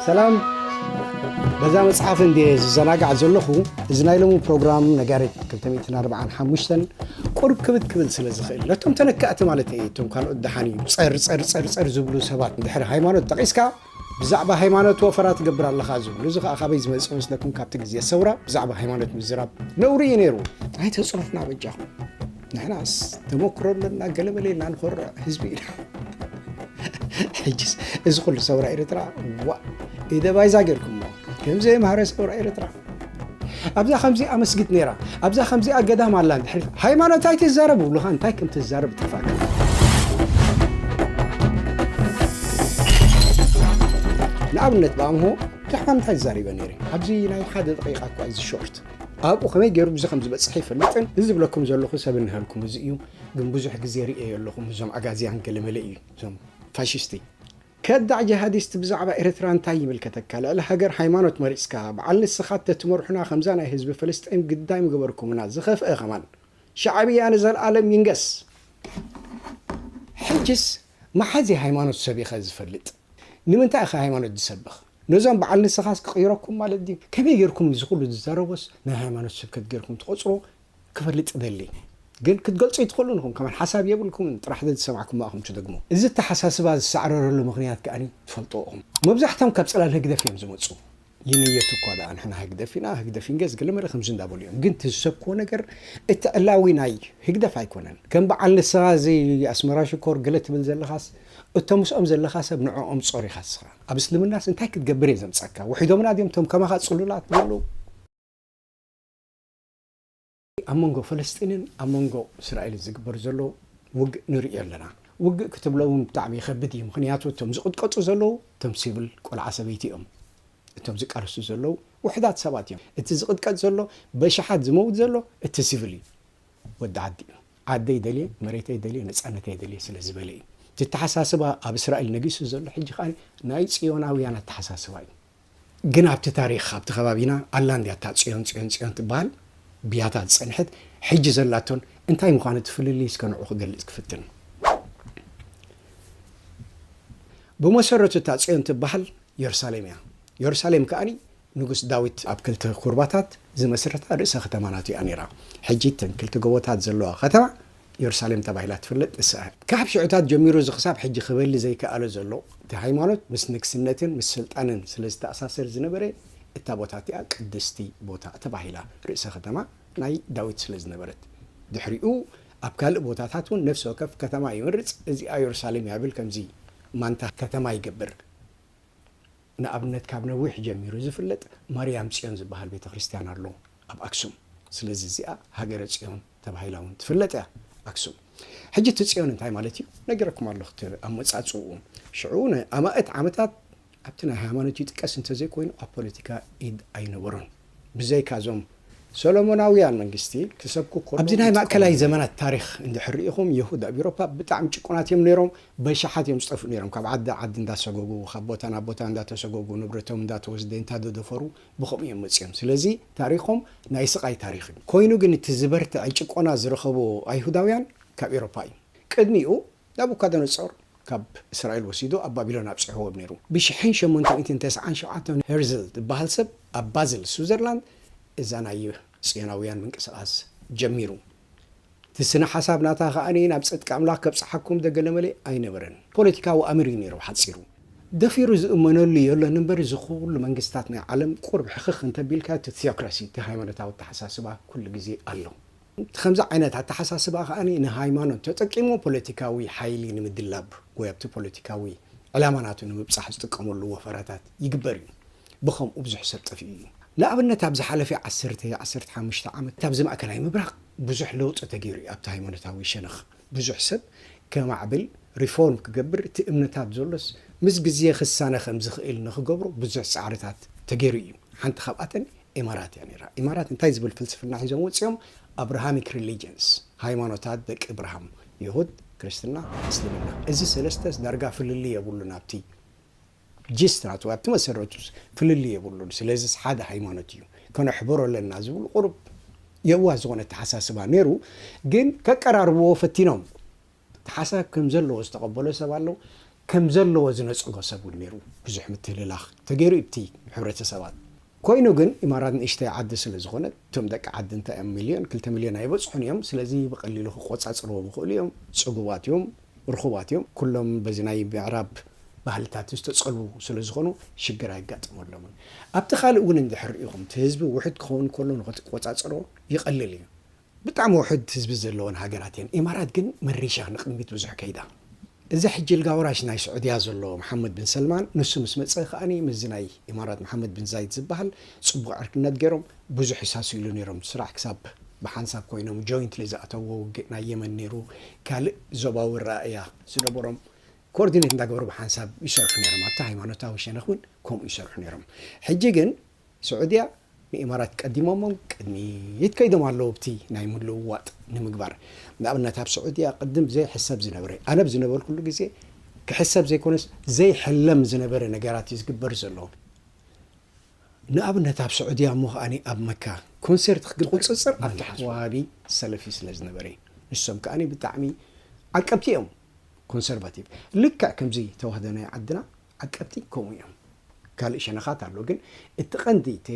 ሰላም በዛ መጽሓፍ እንድየ ዝዘናጋዕ ዘለኹ እዚ ናይ ሎሚ ፕሮግራም ነጋሪት 245 ቁርብ ክብድ ክብል ስለ ዝኽእል ነቶም ተነካእቲ ማለት እየ እቶም ካልኦት ደሓን እዩ ጸር ጸር ጸር ጸር ዝብሉ ሰባት ድሕሪ ሃይማኖት ጠቒስካ ብዛዕባ ሃይማኖት ወፈራ ትገብር ኣለኻ ዝብሉ እዚ ከኣ ካበይ ዝመጽእ መስለኩም ካብቲ ግዜ ሰውራ ብዛዕባ ሃይማኖት ምዝራብ ነውሪ እዩ ነይሩ ኣይተጽርፍና በጃኹም ንሕናስ ተመክሮ ኣለና ገለመለ ኢልና ንኮርዕ ህዝቢ ኢና ሕጅስ እዚ ኩሉ ሰውራ ኤርትራ ዋ ኢደባይዛ ጌርኩሞ ከምዘየምሃረ ሰውራ ኤርትራ ኣብዛ ከምዚኣ መስጊድ ነይራ ኣብዛ ከምዚኣ ገዳም ኣላ እንድሕር ሃይማኖት ኣይትዛረብ ይብሉኻ እንታይ ከም ትዛረብ ጠፋካ ንኣብነት ብኣምሆ ብዛዕባ ምንታይ ዝዛሪበ ነይረ ኣብዚ ናይ ሓደ ደቂቃ እኳ እዚ ሾርት ኣብኡ ከመይ ገይሩ ብዙ ከም ዝበፅሐ ይፈልጥን እዚ ዝብለኩም ዘለኹ ሰብ እንሃልኩም እዚ እዩ ግን ብዙሕ ግዜ ርእየዮ ኣለኹ እዞም ኣጋዝያን ገለመለ እዩ እዞም ፋሽስቲ ከዳዕ ጀሃዲስት ብዛዕባ ኤረትራ እንታይ ይምልከተካ ልዕሊ ሃገር ሃይማኖት መሪጽካ ብዓል ንስኻ ተትመርሑና ከምዛ ናይ ህዝቢ ፍልስጤም ግዳይ ምገበርኩምና ዝኸፍኣ ከማን ሻዕብያ ንዘልኣለም ይንገስ ሕጅስ መሓዚ ሃይማኖት ሰቢኸ ዝፈልጥ ንምንታይ ኢኻ ሃይማኖት ዝሰብኽ ነዞም ብዓል ንስኻስ ክቕይረኩም ማለት ድዩ ከመይ ጌርኩም እዚ ኩሉ ዝዛረቦስ ናይ ሃይማኖት ስብከት ጌርኩም ትቖጽርዎ ክፈልጥ እደሊ ግን ክትገልጹ ኣይትኽእሉን ኢኹም ከማን ሓሳብ የብልኩምን ጥራሕ ዘዝሰማዕኩሞ ኢኹም ትደግሙ እዚ ኣተሓሳስባ ዝሳዕረረሉ ምኽንያት ከኣ ትፈልጥዎ ኢኹም መብዛሕቶም ካብ ጽላል ህግደፍ ኢዮም ዝመጹ ይንየቱ እኳ ደኣ ንሕና ህግደፍ ኢና ህግደፍ ኢንገዝ ገለመለ ከምዚ እንዳበሉ ኢዮም ግን እቲ ዝሰብክዎ ነገር እቲ ዕላዊ ናይ ህግደፍ ኣይኮነን ከም በዓል ንስኻ እዚ ኣስመራ ሽኮር ገለ ትብል ዘለኻስ እቶ ምስኦም ዘለኻ ሰብ ንዕኦም ጾር ኢኻ ንስኻ ኣብ እስልምናስ እንታይ ክትገብር ኢየ ዘምጻካ ውሒዶምና ድዮም እቶም ከማኻ ጽሉላት ዘለዉ ኣብ መንጎ ፈለስጢንን ኣብ መንጎ እስራኤልን ዝግበር ዘሎ ውግእ ንርእዮ ኣለና። ውግእ ክትብሎ እውን ብጣዕሚ ይኸብድ እዩ። ምኽንያቱ እቶም ዝቕጥቀጡ ዘለዉ እቶም ሲቭል ቆልዓ ሰበይቲ እዮም። እቶም ዝቃለሱ ዘለዉ ውሑዳት ሰባት እዮም። እቲ ዝቕጥቀጥ ዘሎ በሽሓት ዝመውት ዘሎ እቲ ሲቭል እዩ። ወዲ ዓዲ እዩ። ዓደይ ደልየ መሬተይ ደልየ ነፃነተይ ደልየ ስለ ዝበለ እዩ። እቲ ኣተሓሳስባ ኣብ እስራኤል ነጊሱ ዘሎ ሕጂ ከኣ ናይ ጽዮናውያን ኣተሓሳስባ እዩ። ግን ኣብቲ ታሪኽ ኣብቲ ከባቢና ኣላ እንድያ እታ ጽዮን ጽዮን ጽዮን ትበሃል ብያታ ዝጸንሐት ሕጂ ዘላቶን እንታይ ምዃኑ እቲ ፍልልይ እስከ ንዑ ክገልጽ ክፍትን ብመሰረቱ እታ ጽዮን ትበሃል የሩሳሌም እያ የሩሳሌም ከኣ ንጉስ ዳዊት ኣብ ክልተ ኩርባታት ዝመስረታ ርእሰ ከተማ ናቱ እያ ነይራ ሕጂ እተን ክልተ ጎቦታት ዘለዋ ከተማ ዮርሳሌም ተባሂላ ትፍለጥ ንስኣ እያ። ካብ ሽዑታት ጀሚሩ እዚ ክሳብ ሕጂ ክበሊ ዘይከኣሎ ዘሎ እቲ ሃይማኖት ምስ ንግስነትን ምስ ስልጣንን ስለ ዝተኣሳሰር ዝነበረ እታ ቦታ እቲኣ ቅድስቲ ቦታ ተባሂላ ርእሰ ከተማ ናይ ዳዊት ስለ ዝነበረት ድሕሪኡ ኣብ ካልእ ቦታታት እውን ነፍሲ ወከፍ ከተማ ይመርጽ እዚኣ ዮርሳሌም እያ ይብል ከምዚ ማንታ ከተማ ይገብር። ንኣብነት ካብ ነዊሕ ጀሚሩ ዝፍለጥ ማርያም ጽዮን ዝበሃል ቤተ ክርስትያን ኣሎ ኣብ ኣክሱም ስለዚ እዚኣ ሃገረ ጽዮን ተባሂላ ውን ትፍለጥ እያ ኣክሱም ሕጂ እቲ ጽዮን እንታይ ማለት እዩ ነጊረኩም ኣለኹ እቲ ኣመጻጽኡ ሽዑ ንኣማእት ዓመታት ኣብቲ ናይ ሃይማኖት ይጥቀስ እንተዘይኮይኑ ኣብ ፖለቲካ ኢድ ኣይነበሮን ብዘይካ'ዞም ሰሎሞናውያን መንግስቲ ክሰብኩ ከለዉ ይጥቀሙሉ ነይሮም። ኣብዚ ናይ ማእከላይ ዘመናት ታሪኽ እንድሕር ርኢኹም የሁድ ኣብ ኤውሮፓ ብጣዕሚ ጭቁናት እዮም ነይሮም። በሻሓት እዮም ዝጠፍኡ ነይሮም ካብ ዓዲ ናብ ዓዲ እንዳሰጎጉ ካብ ቦታ ናብ ቦታ እንዳተሰጎጉ ንብረቶም እንዳተወስደ እንታደደፈሩ ብኸምኡ እዮም መጺኦም። ስለዚ ታሪኾም ናይ ስቓይ ታሪኽ እዩ። ኮይኑ ግን እቲ ዝበርትዐ ጭቆና ዝረኸቡ ኣይሁዳውያን ካብ ኤውሮፓ እዩ። ቅድሚኡ ናቡካደነጾር ካብ እስራኤል ወሲዱ ኣብ ባቢሎን ኣብጺሕዎም ነይሩ። ብሽሕን ሸሞንተ ሚእትን ተስዓን ሸውዓተን ሄርዝል ዝበሃል ሰብ ኣብ ባዝል፣ ስዊዘርላንድ፣ እዛ ናይ ጽዮናውያን ምንቅስቓስ ጀሚሩ። እቲ ስነ-ሓሳብ ናታ ከኣ ናብ ጽድቂ ኣምላኽ ከብጽሓኩም ደገለመለ ኣይነበረን። ፖለቲካዊ ኣምር እዩ ነይሩ ብሓጺሩ። ደፊሩ ዝእመነሉ የሎን እምበር እዚ ኩሉ መንግስታት ናይ ዓለም ቁሩብ ሕኽኽ እንተቢልካዮ እቲ ቲዮክራሲ እቲ ሃይማኖታዊ ኣተሓሳስባ ኩሉ ግዜ ኣሎ። እቲ ከምዚ ዓይነት ኣተሓሳስባ ከኣ ንሃይማኖት ተጠቂሙ ፖለቲካዊ ሓይሊ ንምድላብ ወይ ኣብቲ ፖለቲካዊ ዕላማ ናቱ ንምብጻሕ ዝጥቀመሉ ወፈራታት ይግበር እዩ። ብኸምኡ ብዙሕ ሰብ ጠፊኡ እዩ። ንኣብነት ኣብ ዝሓለፊ ዓሰርተ፣ ዓሰርተ ሓሙሽተ ዓመት ኣብዚ ማእከላይ ምብራቕ ብዙሕ ለውጢ ተገይሩ እዩ። ኣብቲ ሃይማኖታዊ ሸነኽ ብዙሕ ሰብ ከማዕብል፣ ሪፎርም ክገብር፣ እቲ እምነታት ዘሎስ ምስ ግዜ ክሳነ ከም ዝኽእል ንኽገብሮ ብዙሕ ጻዕርታት ተገይሩ እዩ። ሓንቲ ካብኣተን ኢማራት እያ ነይራ። ኢማራት እንታይ ዝብል ፍልስፍና ሒዞም ወጺኦም? ኣብርሃሚክ ሪሊጅንስ፣ ሃይማኖታት ደቂ እብራሃም፣ የሁድ፣ ክርስትና፣ እስልምና። እዚ ሰለስተስ ዳርጋ ፍልልይ የብሉን ኣብቲ ጂስት ናቱ፣ ኣብቲ መሰረቱ ፍልልይ የብሉን። ስለዚስ ሓደ ሃይማኖት እዩ። ከነሕብሮ ኣለና ዝብል ቁሩብ የዋህ ዝኾነ ኣተሓሳስባ ነይሩ። ግን ከቀራርብዎ ፈቲኖም። እቲ ሓሳብ ከም ዘለዎ ዝተቐበሎ ሰብ ኣሎ፣ ከም ዘለዎ ዝነጸጎ ሰብ እውን ነይሩ። ብዙሕ ምትህልላኽ ተገይሩ እዩ ብቲ ሕብረተሰባት። ኮይኑ ግን ኢማራት ንእሽተይ ዓዲ ስለ ዝኾነት፣ እቶም ደቂ ዓዲ እንታይ እዮም ሚልዮን ክልተ ሚልዮን ኣይበጽሑን እዮም፣ ስለዚ ብቐሊሉ ክቆጻጸርዎም ይኽእሉ እዮም፣ ጽጉባት እዮም፣ ርኹባት እዮም፣ ኩሎም በዚ ናይ ምዕራብ ባህልታት ዝተጸልዉ ስለ ዝኾኑ ሽግር ኣይጋጠመሎምን። ኣብቲ ካልእ እውን እንድሕር ርኢኹም እቲ ህዝቢ ውሑድ ክኸውን ከሎ ንኽትቆጻጸሮ ይቐልል እዩ። ብጣዕሚ ውሑድ ህዝቢ ዘለወን ሃገራት እየን። ኢማራት ግን መሪሻ ንቅድሚት ብዙሕ ከይዳ። እዚ ሕጂ ኣልጋ ወራሽ ናይ ስዑድያ ዘሎ መሓመድ ብን ሰልማን ንሱ ምስ መጸ ከኣ ምስዚ ናይ ኢማራት መሓመድ ብን ዛይድ ዝበሃል ጽቡቕ ዕርክነት ገይሮም ብዙሕ ይሳስይሉ ነይሮም ስራዕ ክሳብ ብሓንሳብ ኮይኖም ጆይንትሊ ዝኣተውዎ ውግእ ናይ የመን ነይሩ ካልእ ዞባዊ ኣረኣእያ ዝነበሮም ኮርዲኔት እንዳገበሩ ብሓንሳብ ይሰርሑ ነይሮም ኣብቲ ሃይማኖታዊ ሸነኽ ውን ከምኡ ይሰርሑ ነይሮም ሕጂ ግን ስዑድያ ንኢማራት ቀዲሞሞም ቅድሚት ከይዶም ኣለዉ ኣብቲ ናይ ምልውዋጥ ንምግባር። ንኣብነት ኣብ ስዑድያ ቅድም ዘይሕሰብ ዝነበረ፣ ኣነ ኣብ ዝነበርኩሉ ግዜ ክሕሰብ ዘይኮነስ ዘይሕለም ዝነበረ ነገራት እዩ ዝግበር ዘሎ። ንኣብነት ኣብ ስዑድያ እሞ ከኣ ኣብ መካ ኮንሰርት ክትገብር ብቑጽጽር ኣብቲ ሓዋሃቢ ሰለፊ ስለ ዝነበረ። ንሶም ከኣ ብጣዕሚ ዓቀብቲ እዮም፣ ኮንሰርቫቲቭ። ልክዕ ከምዚ ተዋህዶ ናይ ዓድና ዓቀብቲ ከምኡ እዮም ካልእ ሸነኻት ኣሎ ግን እቲ ቀንዲ እቲ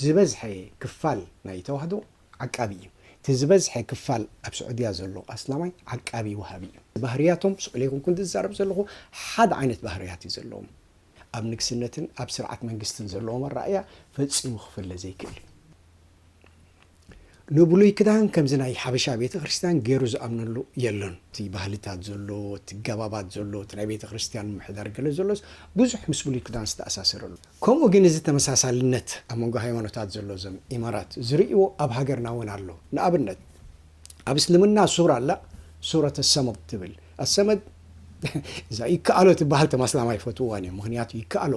ዝበዝሐ ክፋል ናይ ተዋህዶ ዓቃቢ እዩ እቲ ዝበዝሐ ክፋል ኣብ ስዑድያ ዘሎ ኣስላማይ ዓቃቢ ወሃቢ እዩ ባህርያቶም ስቅ ኢለ ኣይኮንኩን ዝዛረብ ዘለኹ ሓደ ዓይነት ባህርያት እዩ ዘለዎም ኣብ ንግስነትን ኣብ ስርዓት መንግስትን ዘለዎም ኣረኣእያ ፈጺሙ ክፍለ ዘይክእል እዩ። ንብሉይ ክዳን ከምዚ ናይ ሓበሻ ቤተክርስትያን ገይሩ ዝኣምነሉ የሎን። እቲ ባህልታት ዘሎ፣ እቲ ገባባት ዘሎ፣ እቲ ናይ ቤተክርስትያን ምምሕዳር ገለ ዘሎስ ብዙሕ ምስ ብሉይ ክዳን ዝተኣሳሰረ ኣሎ። ከምኡ ግን እዚ ተመሳሳልነት ኣብ መንጎ ሃይማኖታት ዘሎ እዞም ኢማራት ዝርእይዎ ኣብ ሃገርና እውን ኣሎ። ንኣብነት ኣብ እስልምና ሱራ ኣላ ሱረተ ሰመድ ትብል። ኣሰመድ እዛ ይከኣሎ ትበሃል ተም ኣስላም ኣይፈትውዋን እዮም ምኽንያቱ ይከኣሎ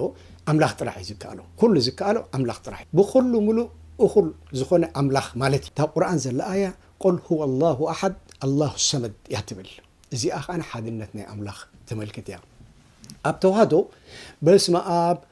ኣምላኽ ጥራሕ እዩ ዝከኣሎ ኩሉ ዝከኣሎ ኣምላኽ ጥራሕ እዩ ብኹሉ ምሉእ እኹል ዝኾነ ኣምላኽ ማለት እዩ እታ ቁርኣን ዘላ ኣያ ቁል ሁወ ኣላሁ ኣሓድ ኣላሁ ሰመድ እያ ትብል እዚኣ ከኣ ሓድነት ናይ ኣምላኽ ተመልክት እያ ኣብ ተዋህዶ በስመኣብ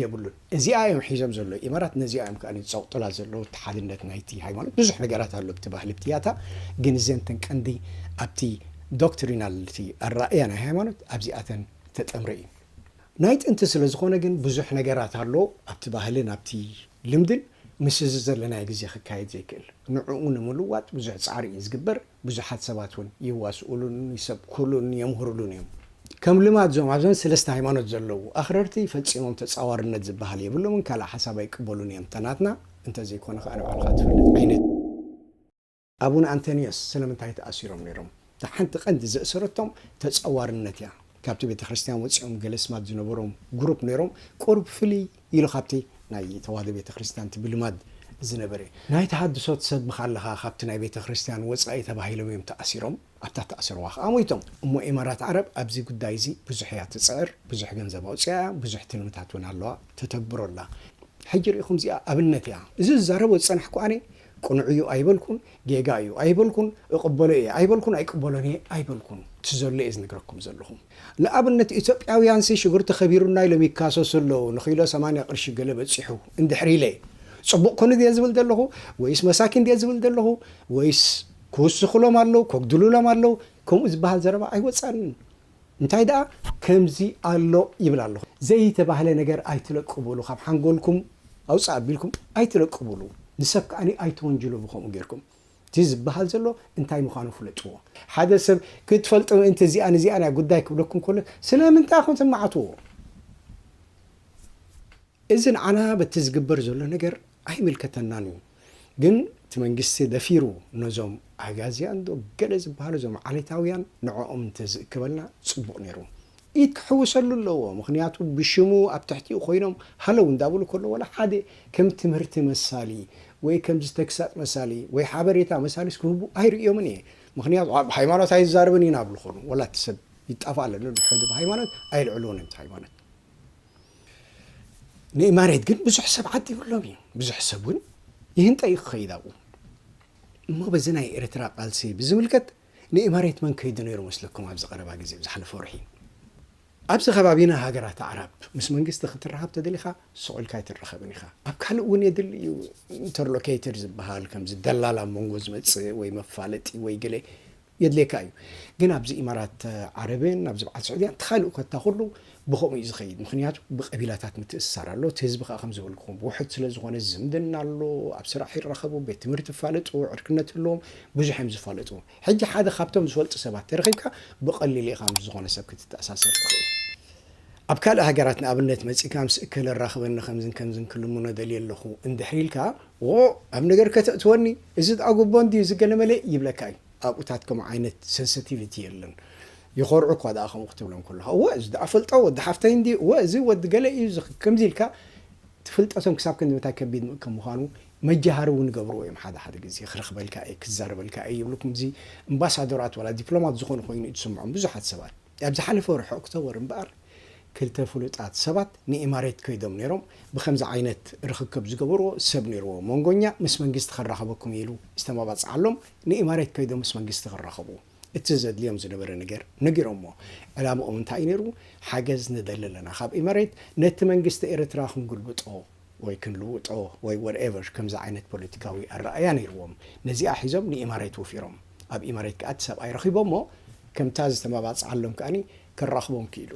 የብሉን እዚኣ እዮም ሒዞም ዘለዉ ኢማራት ነዚኣ እዮም ከኣ ዝጸቕጡላ ዘለዉ እቲ ሓድነት ናይቲ ሃይማኖት ብዙሕ ነገራት ኣሎ ኣብቲ ባህሊ ኣብቲ ያታ ግን እዘን እተን ቀንዲ ኣብቲ ዶክትሪናል እቲ ኣራእያ ናይ ሃይማኖት ኣብዚኣተን ዝተጠምረ እዩ ናይ ጥንቲ ስለ ዝኾነ ግን ብዙሕ ነገራት ኣሎ ኣብቲ ባህልን ኣብቲ ልምድን ምስ እዚ ዘለናዮ ግዜ ክካየድ ዘይክእል ንዕኡ ንምልዋጥ ብዙሕ ጻዕሪ እዩ ዝግበር ብዙሓት ሰባት እውን ይዋስኡሉን ይሰብኩሉን የምህሩሉን እዮም። ከም ልማድ እዞም ኣብዘን ሰለስተ ሃይማኖት ዘለዉ ኣኽረርቲ ፈጺሞም ተጻዋርነት ዝበሃል የብሎምን ካልእ ሓሳብ ኣይቅበሉን እዮም ተናትና እንተዘይኮነ ከኣ ንባዕልኻ ትፈልጥ ዓይነት ኣቡነ ኣንተንዮስ ስለምንታይ ተኣሲሮም ነይሮም? እታ ሓንቲ ቀንዲ ዘእሰረቶም ተጻዋርነት እያ። ካብቲ ቤተክርስትያን ወጺኦም ገለ ስማት ዝነበሮም ጉሩፕ ነይሮም ቁሩብ ፍልይ ኢሉ ካብቲ ናይ ተዋህዶ ቤተ ክርስቲያን እቲ ብልማድ ዝነበረ ናይ ተሃድሶ ትሰብኽ ኣለኻ ካብቲ ናይ ቤተ ክርስቲያን ወጻኢ ተባሂሎም እዮም ተኣሲሮም ኣብታ እተኣስርዋ ከኣ ሞይቶም። እሞ ኢማራት ዓረብ ኣብዚ ጉዳይ እዚ ብዙሕ እያ ትጽዕር ብዙሕ ገንዘብ ኣውጺኣ እያ ብዙሕ ትልምታት እውን ኣለዋ ተተግብሮ ኣላ ሕጂ ርኢኹም እዚኣ ኣብነት እያ እዚ ዝዛረቦ ዝጸናሕኩ ኣነ ቅኑዕ እዩ ኣይበልኩን፣ ጌጋ እዩ ኣይበልኩን፣ እቕበሎ እየ ኣይበልኩን፣ ኣይቅበሎን እየ ኣይበልኩን፣ እቲ ዘሎ እየ ዝነግረኩም ዘለኹ። ንኣብነት ኢትዮጵያውያንሲ ሽጉርቲ ከቢሩና ኢሎም ይካሰሱ ኣለዉ፣ ንኪሎ ሰማንያ ቅርሺ ገለ በጺሑ እንድሕሪ ኢለ ጽቡቕ ኩኑ ድየ ዝብል ዘለኹ ወይስ መሳኪን ድየ ዝብል ዘለኹ ወይስ ክውስኹሎም ኣለዉ፣ ከጉድሉሎም ኣለዉ ከምኡ ዝበሃል ዘረባ ኣይወጻንን። እንታይ ደኣ ከምዚ ኣሎ ይብል ኣለኹ። ዘይተባህለ ነገር ኣይትለቅቡሉ ካብ ሓንጎልኩም ኣውጽእ ኣቢልኩም ኣይትለቅቡሉ ንሰብ ከኣ ኣይትወንጅሉ ብከምኡ ጌርኩም እቲ ዝበሃል ዘሎ እንታይ ምዃኑ ፍለጥዎ። ሓደ ሰብ ክትፈልጦ ምእንቲ እዚኣን እዚኣን እያ ጉዳይ ክብለኩም ከሎ ስለምንታይ ኢኹም ትማዕትዎ? እዚ ንዓና በቲ ዝግበር ዘሎ ነገር ኣይምልከተናን እዩ። ግን እቲ መንግስቲ ደፊሩ ነዞም ኣጋዝያን ዶ ገለ ዝብሃሉ እዞም ዓሌታውያን ንዕኦም እንተዝእክበልና ጽቡቕ ኔሩ። ኢድ ክሕውሰሉ ኣለዎ ምኽንያቱ ብሽሙ ኣብ ትሕቲኡ ኮይኖም ሃለው እንዳበሉ ከለው ዋላ ሓደ ከም ትምህርቲ መሳሊ ወይ ከምዚ ተግሳጽ መሳሊ ወይ ሓበሬታ መሳሊስ ክህቡ ኣይርእዮምን እየ ምኽንያቱ ብሃይማኖት ኣይዛረብን ኢና ብልኾኑ ዋላ እቲ ሰብ ይጣፋእ ለሎ ድሕሪ እዚ ብሃይማኖት ኣየልዕልዎን እዮም እቲ ሃይማኖት ንእማሬት ግን ብዙሕ ሰብ ዓዲሙሎም እዩ ብዙሕ ሰብ እውን ይህንጠ እዩ ክኸይድ ኣብኡ እሞ በዚ ናይ ኤርትራ ቃልሲ ብዝምልከት ንእማሬት መን ከይዱ ነይሩ መስለኩም ኣብዚ ቀረባ ግዜ ዝሓለፈ ወርሒ ኣብዚ ከባቢና ሃገራት ኣዕራብ ምስ መንግስቲ ክትራኸብ ተደሊኻ ስቕ ኢልካ ኣይትራኸብን ኢኻ ኣብ ካልእ እውን የድሊ እዩ ኢንተርሎኬተር ዝበሃል ከምዚ ደላላ ኣብ መንጎ ዝመፅእ ወይ መፋለጢ ወይ ገለ የድልየካ እዩ ግን ኣብዚ ኢማራት ዓረብን ኣብዚ በዓል ስዑድያን እቲ ካልእ ኮታ ኩሉ ብከምኡ እዩ ዝከይድ ምክንያቱ ብቀቢላታት ምትእስሳር ኣሎ እቲ ህዝቢ ከኣ ከም ዝበልኩኩም ውሑድ ስለ ዝኮነ ዝምድና ኣሎ ኣብ ስራሕ ይራከቡ ቤት ትምህርቲ ይፋለጡ ዕርክነት ህልዎም ብዙሕ እዮም ዝፋለጡ ሕጂ ሓደ ካብቶም ዝፈልጡ ሰባት ተረኪብካ ብቀሊሉ ኢካ ምስ ዝኮነ ሰብ ክትተኣሳሰር ትክእል ኣብ ካልእ ሃገራት ንኣብነት መጺእካ ምስ እከለ ኣራክበኒ ከምዝን ከምዝን ክልምኖ ደልየ ኣለኩ እንድሕሪ ኢልካ ዉቑዕ ኣብ ነገር ከተእትወኒ እዚ ድኣ ጉቦ እንድዩ እዚ ገለ መለ ይብለካ እዩ ኣብኡታት ከምኡ ዓይነት ሰንሰቲቪቲ የለን ይኾርዑ እኳ ድኣ ከምኡ ክትብሎም ከለኻ እወ እዚ ድኣ እፈልጦ ወዲ ሓፍተይ እንድዩ እወ እዚ ወዲ ገለ እዩ እዚ ከምዚ ኢልካ ፍልጠቶም ክሳብ ክንድምንታይ ከቢድ ከም ምዃኑ መጃሃሪ ዉን ይገብርዎ እዮም ሓደ ሓደ ግዜ ክረኽበልካ እየ ክዛረበልካ እየ ይብሉ ክምዚ እምባሳዶራት ዋላ ዲፕሎማት ዝኾኑ ኮይኑ እዩ ዝስምዖም ብዙሓት ሰባት ኣብ ዝሓለፈ ወርሒ ኦክቶበር እምበኣር፣ ክልተ ፍሉጣት ሰባት ንኢማሬት ከይዶም ነይሮም፣ ብኸምዚ ዓይነት ርኽክብ ዝገበርዎ ሰብ ነይርዎ፣ መንጎኛ ምስ መንግስቲ ከራኽበኩም እዩ ኢሉ ዝተማባጽዓሎም፣ ንኢማሬት ከይዶም ምስ መንግስቲ ክራኸቡ እቲ ዘድልዮም ዝነበረ ነገር ነጊሮሞ፣ ዕላምኦም እንታይ እዩ ነይሩ፣ ሓገዝ ንደሊ ኣለና ካብ ኢማሬት፣ ነቲ መንግስቲ ኤርትራ ክንግልብጦ፣ ወይ ክንልውጦ ወይ ወትኤቨር ከምዚ ዓይነት ፖለቲካዊ ኣረኣእያ ነይርዎም። ነዚኣ ሒዞም ንኢማሬት ወፊሮም። ኣብ ኢማሬት ከኣ እቲ ሰብኣይ ረኺቦሞ ከምታ ዝተመባጽዓሎም ከኣ ከራኽቦም ክኢሉ።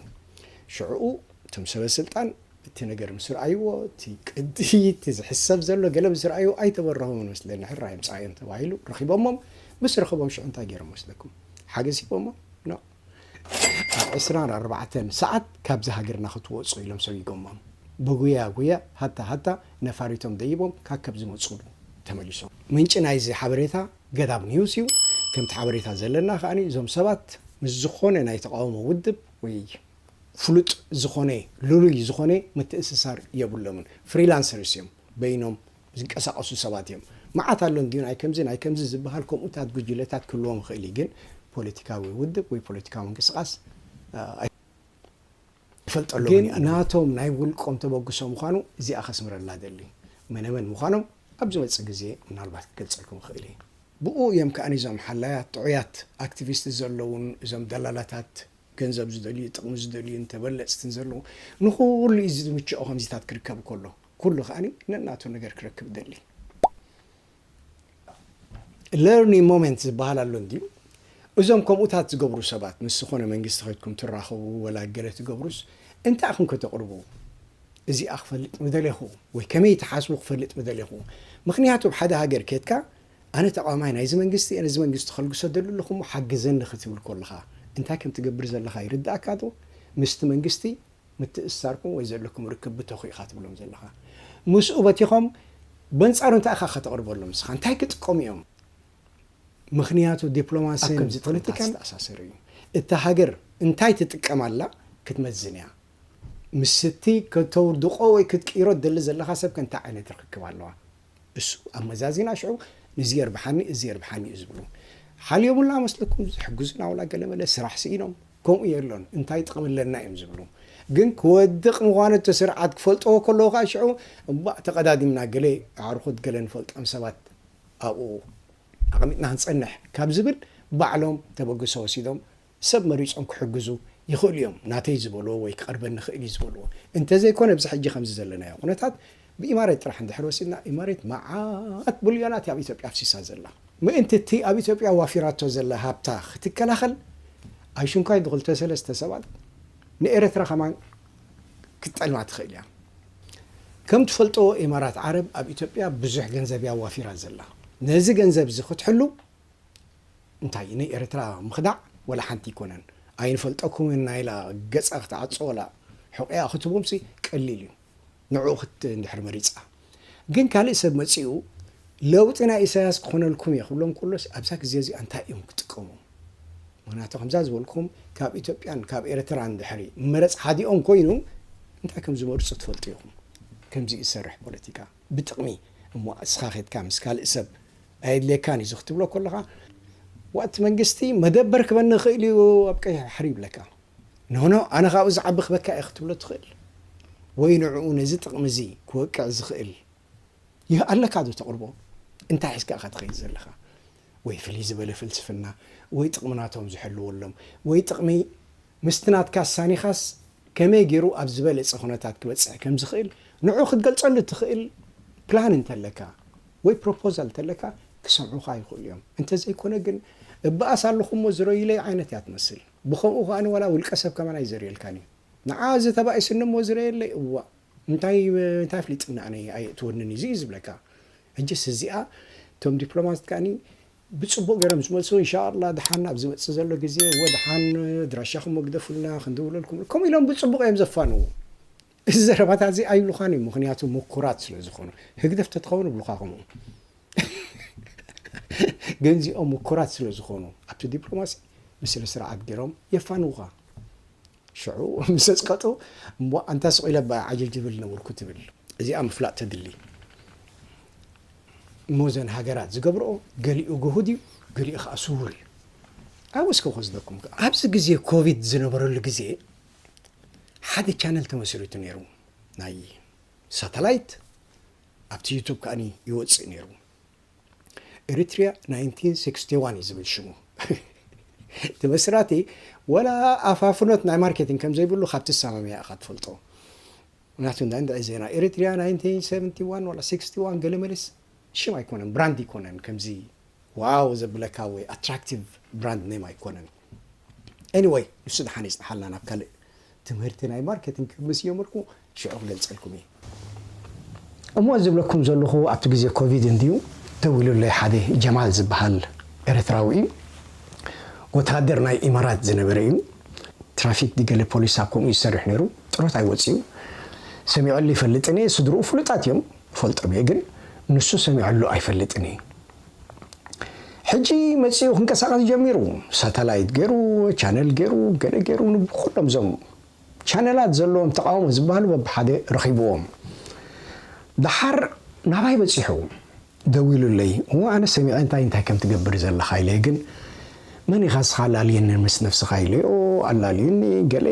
ሽዕኡ እቶም ሰበስልጣን እቲ ነገር ምስ ረኣይዎ እቲ ቅዲ እቲ ዝሕሰብ ዘሎ ገለ ምስ ረኣይዎ ኣይተበረሆምን መስለኒ ሕራይ ኣምጽኣዮም ተባሂሉ ረኺቦሞም። ምስ ረኸቦም ሽዑ እንታይ ገይሮም መስለኩም? ሓገሲቦሞ? ኖእ። ኣብ ዕስራን ኣርባዕተን ሰዓት ካብዚ ሃገርና ክትወጹ ኢሎም ሰጉጎሞም። ብጉያ ጉያ ሃታ ሃታ ነፋሪቶም ደይቦም ካከብ ዝመጹሉ ተመሊሶም። ምንጪ ናይዚ ሓበሬታ ገዳብ ኒውስ እዩ። ከምቲ ሓበሬታ ዘለና ከኣ እዞም ሰባት ምስ ዝኾነ ናይ ተቓውሞ ውድብ ወይ ፍሉጥ ዝኾነ ልሉይ ዝኾነ ምትእስሳር የብሎምን። ፍሪላንሰርስ እዮም። በይኖም ዝንቀሳቐሱ ሰባት እዮም። መዓት ኣሎ እንድዩ ናይ ከምዚ ናይ ከምዚ ዝበሃል ከምኡታት ጉጅለታት ክህልዎም ይኽእል እዩ ግን ፖለቲካዊ ውድብ ወይ ፖለቲካዊ ምንቅስቓስ ኣይፈልጠሎምን እየ ግን ናቶም ናይ ውልቆም ተበግሶ ምዃኑ እዚኣ ከስምረላ እደሊ። መነመን ምዃኖም ኣብ ዝመጽእ ግዜ ምናልባት ክገልጸልኩም ይኽእል እየ። ብእኡ እዮም ከኣ እዞም ሓላያት ጥዑያት ኣክቲቪስት ዘለዉን እዞም ደላላታት ገንዘብ ዝደልዩ ጥቕሚ ዝደልዩን ተበለጽትን ዘለዉ። ንኹሉ እዩ እዚ ዝምችኦ ከምዚታት ክርከብ ከሎ። ኩሉ ከኣ ነናቱ ነገር ክረክብ ይደሊ። ለርኒንግ ሞመንት ዝበሃል ኣሎ እንድዩ። እዞም ከምኡታት ዝገብሩ ሰባት ምስ ዝኾነ መንግስቲ ከድኩም ትራኸቡ ወላ ገለ ትገብሩስ እንታይ ኢኹም ከተቕርቡ? እዚኣ ክፈልጥ ምደሌኹ ወይ ከመይ ትሓስቡ ክፈልጥ ምደሌኹ። ምኽንያቱ ኣብ ሓደ ሃገር ኬድካ ኣነ ተቓዋማይ ናይዚ መንግስቲ እየ ነዚ መንግስቲ ከልግሶ እደሊ ኣለኹ እሞ ሓግዘኒ ክትብል ከለኻ እንታይ ከም ትገብር ዘለኻ ይርድኣካዶ? ምስቲ መንግስቲ ምትእስሳርኩም ወይ ዘለኩም ርክብ ብተኹ ኢኻ ትብሎም ዘለኻ ምስኡ በቲኾም በንጻሩ እንታይ ኢኻ ከተቕርበሎም ንስኻ እንታይ ክጥቀሙ እዮም ምኽንያቱ ዲፕሎማሲ ከምዚ ፖለቲካ ዝተኣሳሰረ እዩ እታ ሃገር እንታይ ትጥቀም ኣላ ክትመዝን እያ ምስቲ ከተውድቆ ወይ ክትቅይሮ ትደሊ ዘለኻ ሰብ ከ እንታይ ዓይነት ርክክብ ኣለዋ እሱ ኣመዛዚና ሽዑ ንዚ የርብሓኒ እዚ የርብሓኒ እዩ ዝብሉ ሓልዮምላ መስለኩም ዝሕግዙና ዋላ ገለመለ ስራሕ ስኢኖም ከምኡ የሎን እንታይ ጥቕሚ ኣለና እዮም ዝብሉ ግን ክወድቕ ምዃኑ እቲ ስርዓት ክፈልጥዎ ከለዉ ከዓ ሽዑ እባእ ተቐዳዲምና ገለ ኣዕርኹት ገለ ንፈልጦም ሰባት ኣብኡ ኣቐሚጥና ክንፀንሕ ካብ ዝብል ባዕሎም ተበግሶ ወሲዶም ሰብ መሪጾም ክሕግዙ ይኽእሉ እዮም፣ ናተይ ዝበልዎ ወይ ክቐርበኒ ይኽእል እዩ ዝበልዎ። እንተዘይኮነ ኣብዚ ሕጂ ከምዚ ዘለናዮ ኩነታት ብኢማሬት ጥራሕ እንድሕር ወሲድና ኢማሬት መዓት ብልዮናት እያ ኣብ ኢትዮጵያ ኣፍሲሳ ዘላ። ምእንቲ እቲ ኣብ ኢትዮጵያ ዋፊራቶ ዘላ ሃብታ ክትከላኸል ኣይሽንኳይ ብክልተ ሰለስተ ሰባት ንኤረትራ ከማን ክትጠልማ ትኽእል እያ። ከም ትፈልጦዎ ኢማራት ዓረብ ኣብ ኢትዮጵያ ብዙሕ ገንዘብ እያ ዋፊራ ዘላ። ነዚ ገንዘብ እዚ ክትሕሉ እንታይ ን ኤርትራ ምኽዳዕ ወላ ሓንቲ ኣይኮነን ኣይንፈልጠኩምን እና ኢላ ገጻ ክትዓጾ ወላ ሑቂኣ ክትቦም ሲ ቀሊል እዩ ንዕኡ ክት እንድሕር መሪጻ ግን ካልእ ሰብ መጺኡ ለውጢ ናይ ኢሳያስ ክኾነልኩም እየ ክብሎም ከሎስ ኣብዛ ግዜ እዚኣ እንታይ እዮም ክጥቀሙ ምክንያቱ ከምዛ ዝበልኩም ካብ ኢትዮጵያን ካብ ኤርትራን ድሕሪ መረጽ ሓዲኦም ኮይኑ እንታይ ከም ዝመርጹ ትፈልጡ ኢኹም ከምዚ ዝሰርሕ ፖለቲካ ብጥቕሚ እሞ እስኻ ኬትካ ምስ ካልእ ሰብ ኣየድልየካን እዩ እዚ ክትብሎ ከለኻ ዋእ እቲ መንግስቲ መደበር ክበኒ ይኽእል እዩ ኣብ ቀይሕ ባሕሪ ይብለካ ኖኖ ኣነ ካብኡ ዝዓቢ ክበካ እየ ክትብሎ ትኽእል ወይ ንዕኡ ነዚ ጥቕሚ እዚ ክወቅዕ ዝኽእል ይህ ኣለካ ዶ ተቕርቦ እንታይ ሒዝካ እኻ ትኸይድ ዘለኻ ወይ ፍልይ ዝበለ ፍልስፍና ወይ ጥቕሚ ናቶም ዝሕልወሎም ወይ ጥቕሚ ምስቲ ናትካ ኣሳኒኻስ ከመይ ገይሩ ኣብ ዝበለጸ ኩነታት ክበጽሕ ከም ዝኽእል ንዕኡ ክትገልጸሉ እትኽእል ፕላን እንተለካ ወይ ፕሮፖዛል እንተለካ ክሰምዑኻ ይኽእሉ እዮም። እንተዘይኮነ ግን እበኣስ ኣለኹ'ሞ ዝረዩለይ ዓይነት እያ ትመስል። ብኸምኡ ከኣ ዋላ ውልቀሰብ ከማን ኣይዘርየልካን እዩ። ንዓ እዚ ተባኢሱኒ እሞ ዝረየለይ እዋእ እንታይ እንታይ ኣፍሊጡኒ ኣነ ኣየእትወንን እዩ ዝብለካ። ሕጅስ እዚኣ እቶም ዲፕሎማት ከኣ ብጽቡቅ ገሮም ዝመልሱ እንሻኣላ ድሓን ኣብ ዝመጽእ ዘሎ ግዜ እወ ድሓን ኣድራሻኹም እወ ግደፉልና ክንድውለልኩም ከምኡ ኢሎም ብጽቡቅ እዮም ዘፋንዉ እዚ ዘረባታት እዚ ኣይብሉኻን እዮም ምኽንያቱ ሙኩራት ስለ ዝኾኑ ህግደፍ ተትኸውን እብሉኻ ከምኡ ግን እዚኦም ሙኩራት ስለ ዝኾኑ ኣብቲ ዲፕሎማሲ ብስነ ስርዓት ገሮም የፋንዉኻ ሽዑ ምስ ዘጽቀጡ እምቧእ ኣንታ ስቕ ኢለ እባ ዓጀ ጅብል ነበርኩ ትብል። እዚኣ ምፍላጥ ተድሊ እሞ እዘን ሃገራት ዝገብርኦ ገሊኡ ግሁድ እዩ ገሊኡ ከዓ ስውር እዩ ኣብኡ እስከ ክወስደኩም ከ ኣብዚ ግዜ ኮቪድ ዝነበረሉ ግዜ ሓደ ቻነል ተመስሪቱ ነይሩ ናይ ሳተላይት ኣብቲ ዩቱብ ከዓኒ ይወፅእ ነይሩ Eritrea 1961 እዩ ዝብል ሽሙ እቲ መስራቲ ወላ ኣፋፍኖት ናይ ማርኬቲንግ ከም ዘይብሉ ካብ ትሰማምያ ኢኻ ትፈልጦ ምክንያቱ እንዳ እንድዒ ዜና ኤሪትሪያ 1971 ወላ 61 ገለ መለስ ሽም ኣይኮነን ብራንድ ኣይኮነን ከምዚ ዋው ዘብለካ ወይ ኣትራክቲቭ ብራንድ ኔም ኣይኮነን Anyway ንሱ ደሓን ይጽንሓልና ናብ ካልእ ትምህርቲ ናይ ማርኬቲንግ ክብ ምስ ጀመርኩ ሽዑ ክገልጸልኩም እየ። እሞ እዚ ዝብለኩም ዘለኹ ኣብቲ ግዜ ኮቪድ እንድዩ ደዊሉለይ ሓደ ጀማል ዝብሃል ኤረትራዊ እዩ ወተሃደር ናይ ኢማራት ዝነበረ እዩ ትራፊክ ድገለ ፖሊስ ኣብ ከምኡ እዩ ዝሰርሕ ነይሩ ጥሮታ እዩ ወጺኡ ሰሚዐሉ ይፈልጥን እየ ስድርኡ ፍሉጣት እዮም እፈልጦም እየ ግን ንሱ ሰሚዐሉ ኣይፈልጥን እየ ሕጂ መጺኡ ክንቀሳቀስ ጀሚሩ ሳታላይት ገሩ ቻነል ገሩ ገለ ገሩ ንብኩሎም ዞም ቻነላት ዘለዎም ተቃውሞ ዝበሃሉ በብሓደ ረኺብዎም ደሓር ናባይ በጺሑ ደዊሉለይ እወ ኣነ ሰሚዐ እንታይ እንታይ ከም ትገብር ዘለኻ ኢለየ ግን መን ኢኻ ንስኻ ኣላልየኒ ምስ ነብስኻ ኢለዮ ኣላልዩኒ ገለ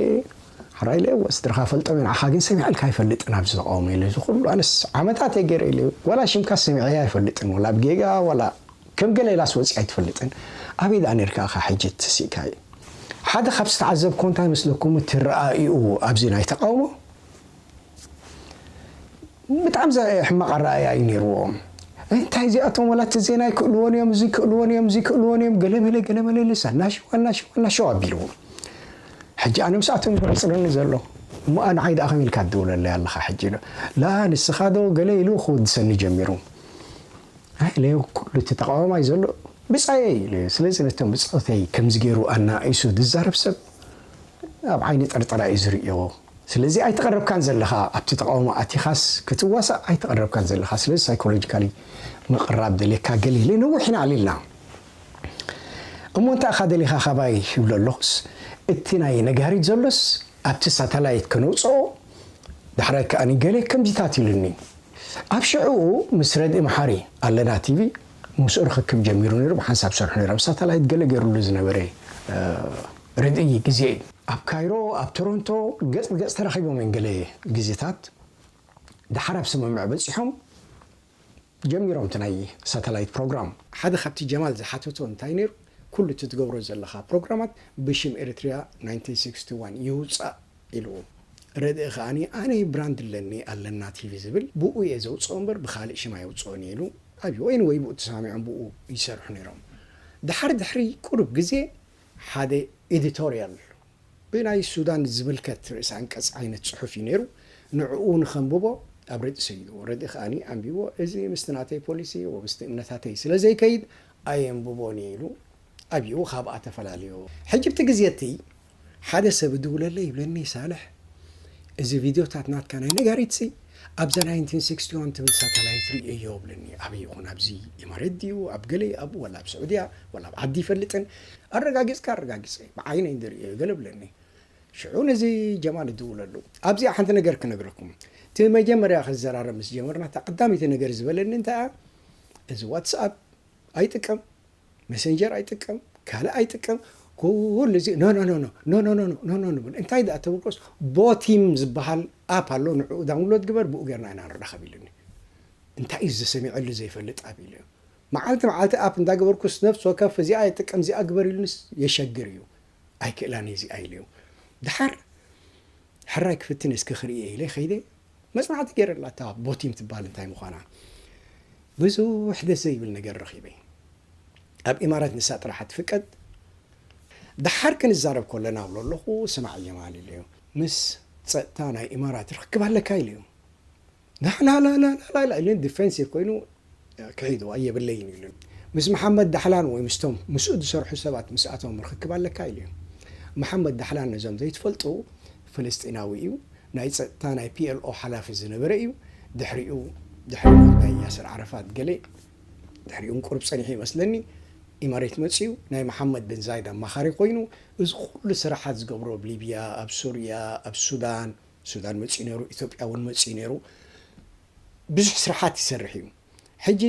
ሕራይ ኢለ እወ ስድራኻ ፈልጦም እዮም ንዓኻ ግን ሰሚዐልካ ኣይፈልጥን ኣብዚ ተቃውሞ ኢለ እዚ ኩሉ ኣነስ ዓመታት እየ ገይረ ኢለ ዋላ ሽምካስ ሰሚዐያ ኣይፈልጥን ዋላ ብ ጌጋ ዋላ ከም ገለ ኢላስ ወጺኣ ኣይትፈልጥን ኣበይ ደኣ ኔርካ እኻ ሕጂ ተሲእካዮ ሓደ ካብ ዝተዓዘብኩዎ እንታይ መስለኩም እቲ ረኣኢኡ ኣብዚ ናይ ተቃውሞ ብጣዕሚ ሕማቕ ኣረኣእያ እዩ ነይርዎ። እንታይ እዚኣቶም ዋላ እቲ ዜና ኣይክእልዎን እዮም፣ እዚ ክእልዎን እዮም፣ እዚ ክእልዎን እዮም፣ ገለመለ ገለመለ ልስ ኣናሽው ኣናሽው ኣናሽው ኣቢልዎ። ሕጂ ኣነ ምስኣቶም ዝቕጽለኒ ዘሎ እሞ ንዓይ ደኣ ከመይ ኢልካ ትድውለለይ ኣለኻ ሕጂ ኢሎ ላ ንስኻ ዶ ገለ ኢሉ ክወድሰኒ ጀሚሩ ኢለዮ ኩሉ እቲ ተቃዋማይ ዘሎ ብጻየይ ኢለዮ ስለዚ ነቶም ብጾተይ ከምዚ ገይሩ ኣናኢሱ ዝዛረብ ሰብ ኣብ ዓይኒ ጠርጠራ እዩ ዝርእዮ ስለዚ ኣይተቀረብካን ዘለኻ ኣብቲ ተቃውሞ ኣቲኻስ ክትዋሳእ ኣይተቀረብካን ዘለኻ ስለዚ ሳይኮሎጂካሊ ምቅራብ ደልየካ ገለ ኢለ ነዊሕ ኢና ኣልልና እሞ እንታይ ኢኻ ደሊኻ ካባይ ይብሎ ኣለኹስ እቲ ናይ ነጋሪት ዘሎስ ኣብቲ ሳታላይት ከነውጽኦ ዳሕራይ ከኣ ገለ ከምዚታት ኢሉኒ ኣብ ሽዕኡ ምስ ረድኢ መሓሪ ኣለና ቲቪ ምስኡ ርኽክብ ጀሚሩ ነይሩ ብሓንሳብ ሰርሑ ነይሩ ኣብ ሳታላይት ገለ ገይሩሉ ዝነበረ ርድኢይ ግዜ እዩ። ኣብ ካይሮ ኣብ ቶሮንቶ ገጽ ብገጽ ተራኺቦም እዮም ገለ ግዜታት ደሓር ኣብ ስምምዕ በጺሖም ጀሚሮም እቲ ናይ ሳተላይት ፕሮግራም። ሓደ ካብቲ ጀማል ዝሓተቶ እንታይ ነይሩ ኩሉ እቲ ትገብሮ ዘለኻ ፕሮግራማት ብሽም ኤሪትሪያ ናይንቲን ሲክስቲ ዋን ይውጻእ ኢልዎ ርድኢ ከኣ ኣነ ብራንድ ኣለኒ ኣለና ቲቪ ዝብል ብኡ እየ ዘውጽኦ እምበር ብኻልእ ሽም ኣየውጽኦን እየ ኢሉ ኣብዩ ኤኒወይ ብኡ ተሰማሚዖም ብኡ ይሰርሑ ነይሮም ደሓር ድሕሪ ቁሩብ ግዜ ሓደ ኤዲቶርያል ብናይ ሱዳን ዝምልከት ርእሰ ኣንቀጽ ዓይነት ጽሑፍ እዩ ነይሩ። ንዕኡ ንኸንብቦ ኣብ ረድኢ ሰዲድዎ። ረድኢ ከኣ ኣንቢብዎ እዚ ምስቲ ናተይ ፖሊሲ ወይ ምስቲ እምነታተይ ስለ ዘይከይድ ኣየንብቦን እየ ኢሉ ኣብዩ ካብኣ ተፈላልዮ። ሕጂ ኣብቲ ግዜ እቲ ሓደ ሰብ እድውለለይ ይብለኒ ሳልሕ እዚ ቪድዮታት ናትካ ናይ ነጋሪትሲ ኣብዛ ናይንቲን ሲክስቲ ዋን ትብል ሳታላይት ርእየዮ እብለኒ ኣበይ ይኾን ኣብዚ ኢማሬት ድዩ ኣብ ገለ ኣብ ወላ ኣብ ስዑድያ ወላ ኣብ ዓዲ ይፈልጥን ኣረጋጊጽካ ኣረጋጊጸ ብዓይነይ ዝርእየዮ ገለ እብለኒ ሽዑ ነዚ ጀማል እድውለሉ ኣብዚኣ ሓንቲ ነገር ክነግረኩም እቲ መጀመርያ ክዘራረብ ምስ ጀመርና እታ ቀዳመይቲ ነገር ዝበለኒ እንታይ እያ እዚ ዋትስኣፕ ኣይጥቀም መሰንጀር ኣይጥቀም ካልእ ኣይጥቀም ኩሉ እዚ ኖኖኖኖ ኖኖኖኖ ኖኖኖ እንታይ ደኣ ተበልኮስ ቦቲም ዝበሃል ኣፕ ኣሎ ንዕኡ ዳውንሎድ ግበር ብኡ ጌርና ኢና ንራኸብ ኢሉኒ እንታይ እዩ ዝሰሚዐሉ ዘይፈልጥ ኣፕ ኢሉ መዓልቲ መዓልቲ ኣፕ እንዳገበርኩስ ነፍሲ ወከፍ እዚኣ የጥቀም እዚኣ ግበር ኢሉንስ የሸግር እዩ ኣይክእላን እዚኣ ኢለዮ ድሓር ሕራይ ክፍትን እስኪ ክርእየ ኢለ ከይደ መጽናዕቲ ገይረላ እታ ቦቲም ትባል እንታይ ምዃና ብዙሕ ደስ ዘይብል ነገር ረኺበ ኣብ ኢማራት ንሳ ጥራሓ ትፍቀድ ደሓር ክንዛረብ ኮለና እብሎ ኣለኹ ስማዕ ጀማል ኢለዮ ምስ ጸጥታ ናይ ኢማራት ርኽክብ ኣለካ ኢለዮ ላላላላላ ኢሉኒ ዲፈንሲቭ ኮይኑ ክሕይልዋ የብለይን ኢሉኒ። ምስ መሓመድ ዳሕላን ወይ ምስቶም ምስኡ ዝሰርሑ ሰባት ምስኣቶም ርኽክብ ኣለካ ኢሉኒ። መሓመድ ዳሕላን ነዞም ዘይትፈልጡ ፍልስጢናዊ እዩ። ናይ ጸጥታ ናይ ፒኤልኦ ሓላፊ ዝነበረ እዩ። ድሕሪኡ ድሕሪ ሞት ናይ ያስር ዓረፋት ገለ ድሕሪኡን ቁሩብ ጸኒሑ ይመስለኒ ኢማሬት መጺኡ ናይ መሓመድ ብን ዛይድ ኣማኻሪ ኮይኑ እዚ ኩሉ ስራሓት ዝገብሮ ኣብ ሊብያ ኣብ ሱርያ ኣብ ሱዳን ሱዳን መጺኡ ነይሩ ኢትዮጵያ እውን መጺኡ ነይሩ። ብዙሕ ስራሓት ይሰርሕ እዩ ሕጂ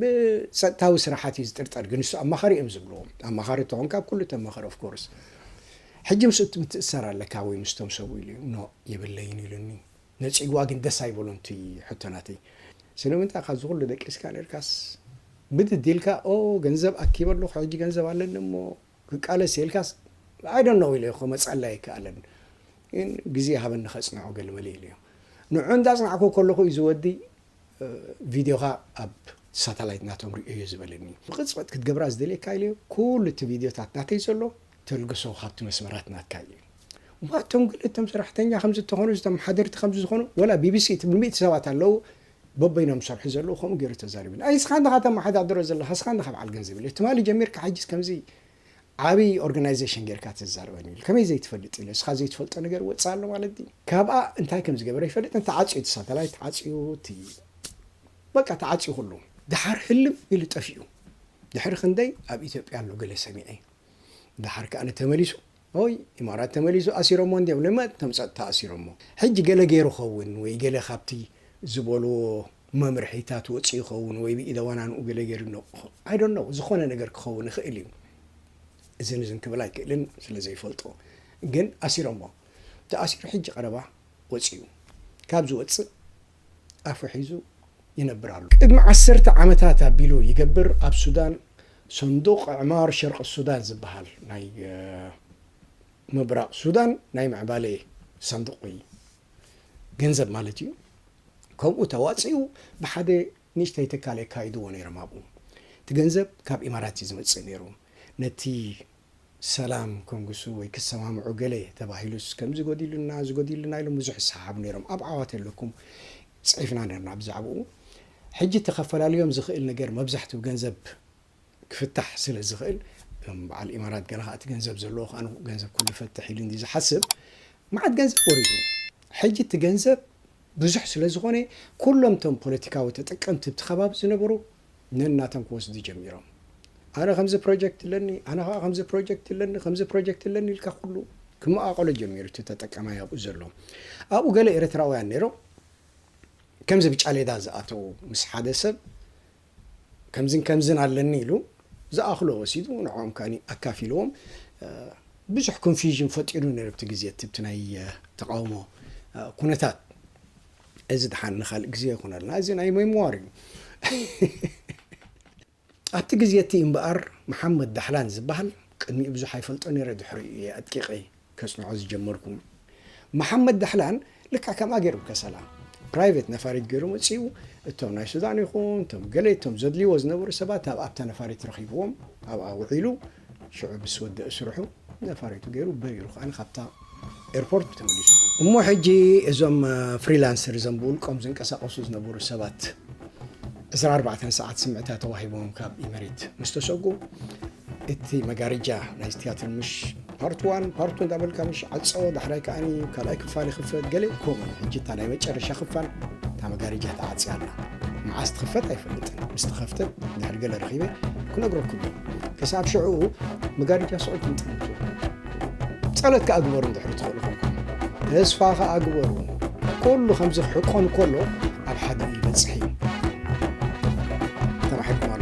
ብጸጥታዊ ስራሓት እዩ ዝጥርጠር ግን ንሱ ኣማኻሪ እዮም ዝብልዎ ኣማኻሪ ተኾንካ ኩሉ ተመኸር ኦፍ ኮርስ ሕጂ ምስ እቲ ምትእሰር ኣለካ ወይ ምስቶም ሰብኡ ኢሉ ኖ የብለይን ኢሉኒ ነጺግዋ ግን ደስ ኣይበሎን እቲ ሕቶ ናተይ ስለምንታይ ካብዚ ኩሉ ደቂስካ ነርካስ ብድድ ኢልካ ኦ ገንዘብ ኣኪበ ኣለኹ ሕጂ ገንዘብ ኣለኒ እሞ ክቃለስ እየ ኢልካስ I don't know ኢለዮ ክመጽኣሉ ኣይከኣለን ግን ግዜ ሃበኒ ከጽንዖ ገለመለ ኢለዮ ንዑ እንዳጽናዕኩ ከለኹ እዩ እዚ ወዲ ቪድዮኻ ኣብ ሳታላይት ናቶም ርእዮዮ ዝበለኒ ብቕጽበት ክትገብራ ዝደልየካ ኢለዮ ኩሉ እቲ ቪድዮታት ናተይ ዘሎ ተልግሶ ካብቲ መስመራት ናትካ እዩ እሞ ኣቶም ገለ እቶም ሰራሕተኛ ከምዚ ተኾኑ ዝተመሓደርቲ ከምዚ ዝኾኑ ወላ ቢቢሲ እቲ ብሚእቲ ሰባት ኣለዉ በበይኖም ዝሰርሑ ዘለዉ ከምኡ ጌሩ ተዛሪቡኒ። ኣይ እስኻ እንድኻ ተመሓዳድሮ ዘለኻ እስኻ እንድኻ በዓል ገንዘብ ኢለ ትማሊ ጀሚርካ ሕጂስ ከምዚ ዓቢ ኦርጋናይዘሽን ጌርካ ተዛርበኒ ኢሉ ከመይ ዘይትፈልጥ ኢለ እስኻ ዘይትፈልጦ ነገር ወጽእ ኣሎ ማለት ድዩ ካብኣ እንታይ ከም ዝገበረ ኣይፈልጥን ተዓጽዩ እቲ ሳተላይት ተዓጽዩ እቲ በቃ ተዓጽዩ ኩሉ ደሓር ህልም ኢሉ ጠፊኡ ድሕሪ ክንደይ ኣብ ኢትዮጵያ ኣሎ ገለ ሰሚዐ ደሓር ከኣ ተመሊሱ ኦይ ኢማራት ተመሊሱ ኣሲሮሞ እንድዮም ለማ እቶም ጸጥታ ኣሲሮሞ ሕጂ ገለ ጌሩ ይኸውን ወይ ገለ ካብቲ ዝበልዎ መምርሒታት ወጺኡ ይኸውን ወይ ብኢደ ዋናንኡ ገለ ጌሩ ኣሎ I don't know ዝኾነ ነገር ክኸውን ይኽእል እዩ እዝን እዝን ክብል ኣይክእልን ስለ ዘይፈልጦ ግን ኣሲሮሞ ተኣሲሩ ሕጂ ቀረባ ወጺኡ ካብ ዝወጽእ ኣፉ ሒዙ ይነብር ኣሎ። ቅድሚ ዓሰርተ ዓመታት ኣቢሉ ይገብር ኣብ ሱዳን ሰንዱቕ ኣዕማር ሸርቒ ሱዳን ዝበሃል ናይ ምብራቕ ሱዳን ናይ ምዕባለ ሰንዱቕ እዩ። ገንዘብ ማለት እዩ። ከምኡ ተዋጺኡ ብሓደ ንእሽተይ ትካል የካይድዎ ነይሮም ኣብኡ። እቲ ገንዘብ ካብ ኢማራት እዩ ዝመጽእ ነይሩ። ነቲ ሰላም ከንግሱ ወይ ክሰማምዑ ገለ ተባሂሉስ ከምዚ ጎዲሉና እዚ ጎዲሉና ኢሎም ብዙሕ ይሰሓሓቡ ነይሮም ኣብ ዓዋተ ኣለኩም ጽሒፍና ነርና ብዛዕብኡ ሕጂ እቲ ከፈላልዮም ዝኽእል ነገር መብዛሕትኡ ገንዘብ ክፍታሕ ስለ ዝኽእል እቶም በዓል ኢማራት ገለ ከኣ እቲ ገንዘብ ዘለዎ ከኣ ገንዘብ ኩሉ ይፈትሕ ኢሉ እንድዩ ዝሓስብ መዓት ገንዘብ ወሪዱ ሕጂ እቲ ገንዘብ ብዙሕ ስለ ዝኾነ ኩሎም እቶም ፖለቲካዊ ተጠቀምቲ ኣብቲ ከባቢ ዝነበሩ ነናቶም ክወስዱ ጀሚሮም። ኣነ ከምዚ ፕሮጀክት ኣለኒ፣ ኣነ ከኣ ከምዚ ፕሮጀክት ኣለኒ፣ ከምዚ ፕሮጀክት ኣለኒ ኢልካ ኩሉ ክመቓቐሎ ጀሚሩ እቲ ተጠቃማይ ኣብኡ ዘሎ። ኣብኡ ገለ ኤርትራውያን ነይሮም ከምዚ ብጫሌዳ ዝኣተዉ ምስ ሓደ ሰብ ከምዝን ከምዝን ኣለኒ ኢሉ ዝኣኽሎ ወሲዱ ንዕኦም ከኣ ኣካፊልዎም ብዙሕ ኮንፊዥን ፈጢሩ ነይሩ ኣብቲ ግዜ እቲ ናይ ተቓውሞ ኩነታት። እዚ ድሓን ንካልእ ግዜ ይኹነልና እዚ ናይ ሜምዋር እዩ። ኣብቲ ግዜ እቲ እምበኣር መሓመድ ዳሕላን ዝበሃል ቅድሚኡ ብዙሕ ኣይፈልጦ ነይረ ድሕሪኡ እየ ኣድቂቐ ከጽንዖ ዝጀመርኩ። መሓመድ ዳሕላን ልክዕ ከምኣ ገይሩ ከሰላ ፕራይቨት ነፋሪት ገይሩ መጺኡ እቶም ናይ ሱዳን ይኹን እቶም ገለ እቶም ዘድልይዎ ዝነበሩ ሰባት ኣብኣ ኣብታ ነፋሪት ረኺብዎም ኣብኣ ውዒሉ ሽዑ ምስ ወደእ ስርሑ ነፋሪቱ ገይሩ በሪሩ ከኣ ካብታ ኤርፖርት ተመሊሱ። እሞ ሕጂ እዞም ፍሪላንሰር እዞም ብውልቆም ዝንቀሳቐሱ ዝነበሩ ሰባት ዕስራ ኣርባዕተ ሰዓት ስምዕታ ተዋሂቦም ካብ ኢመሬት ምስ ተሰጉ እቲ መጋርጃ ናይ ትያትር ምሽ ፓርት ዋን ፓርቱ እንዳበልካ ምሽ ዓጾ ዳሕራይ ከዓኒ ካልኣይ ክፋል ይኽፈት ገለ ከምኡ ሕጂ እታ ናይ መጨረሻ ክፋል እታ መጋርጃ ተዓጽያ ኣላ መዓስ ትኽፈት ኣይፈልጥን ምስ ተኸፍተት ድሕሪ ገለ ረኺበ ክነግረኩም ክሳብ ሽዑ መጋረጃ ስዑ ትንጥልጡ ጸሎት ከኣ ግበሩ እንድሕሪ ትኽእሉ ኮንኩም ተስፋ ከኣ ግበሩ ኩሉ ከምዚ ክሕቆን ከሎ ኣብ ሓደ ይበጽሕ እዩ ተባሒኩም ኣሎ